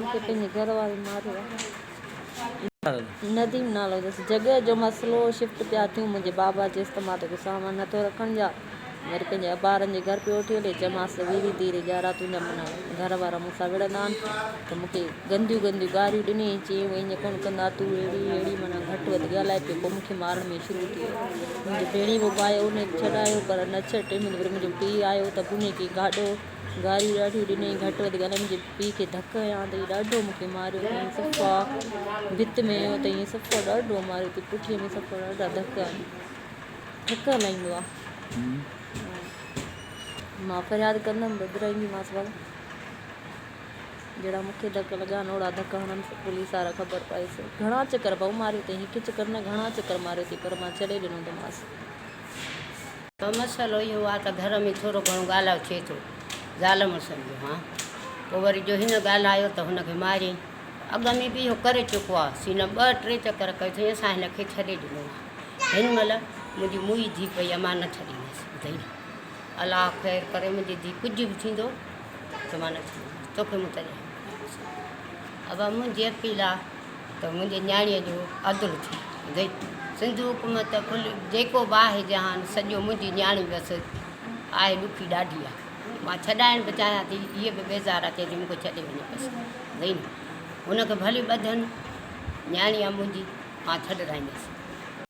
مونکي پنهنجي گهر واري ماريو آهي. نديم نالو اٿس. جڳهه جو مسئلو شفٽ پيا ٿيون منهنجي بابا جي استعمال جو سامان نه ٿو رکڻ جا وري پنهنجي ابارن جي گهر پيو وٺي هلي چيمانس ته ويري ديري ڄارا تنهنجا منهن گهر وارا مون سان وڙهندا آهن ته مونکي گنديون گنديون گاريون ڏني ۽ چيائين هو ائين ڪونه ڪندا تون اهڙي اهڙي منهن گهٽ وڌ ڳالهائي پيو پوء مونکي مارڻ ۾ شروع ٿي ويو منهنجي ڀيڻي مون ڀائي اونهي ڇڏايو پر نه ڇڏ ٽي مهيني وري منهنجو پيء آيو ته بونهي ڪيئي گاڏو گاريون ڏاڍيون ڏنيائين، گهٽ وڌ ڳالهائي منهنجي پيء کي ڌڪ هنيا ها تئين ڏاڍو مون کي ماريو تئين صفا ڀت ۾ هنيو تئين صفا ڏاڍو ماريو تئين پٺيء ۾ صفا ڏاڍا ڌڪ ٺڪ هلائيندو ها مان فرياد ڪندم ٻڌرائينديمانس ڀلا جهڙا مون کي ڌڪ لڳا آهن اوڙا ڌڪ هڻنس پوليس وارا خبر پائي سو گهڻا چڪر ڀائو ماريو تئين هڪ چڪر نه گهڻا چڪر ماريو تئين پر مان ڇڏي ڏنو تماس. ته مسئلو اهو آ ته گهر ۾ ٿورو گهڻو ڳالهاء ٿئي ٿو زال مڙسن جو هان پوء وري جو هن ڳالهايو ته هن کي ماريائين ته اڳ ۾ به اهو ڪري چڪو آ سي نه ٻه ٽي چڪر ڪيو ٿئي اسان هن کي ڇڏي ڏنو آ هن مهل منهنجي موئي ڌي پئي آ مان نه ڇڏيندس ٻڌئي الله خير ڪري منهنجي ڌي ڪجهه به ٿيندو ته مان نه ڇڏيندس توکي مون تڏهن ابا منهنجي اپيل آ ته منهنجي نياڻيء جو عدل ٿي گئي سنڌ حڪومت کل جيڪو به آهي جهان سڄو منهنجي نياڻي بس آهي ڏکي ڏاڍي آهي مان ڇڏائڻ به چاهيان ٿي هيء به بيزار اچي ٿي مونکي ڇڏي وڃي بس گئي نه هن کي ڀلي ٻڌن نياڻي آهي منهنجي مان ڇڏرائيندس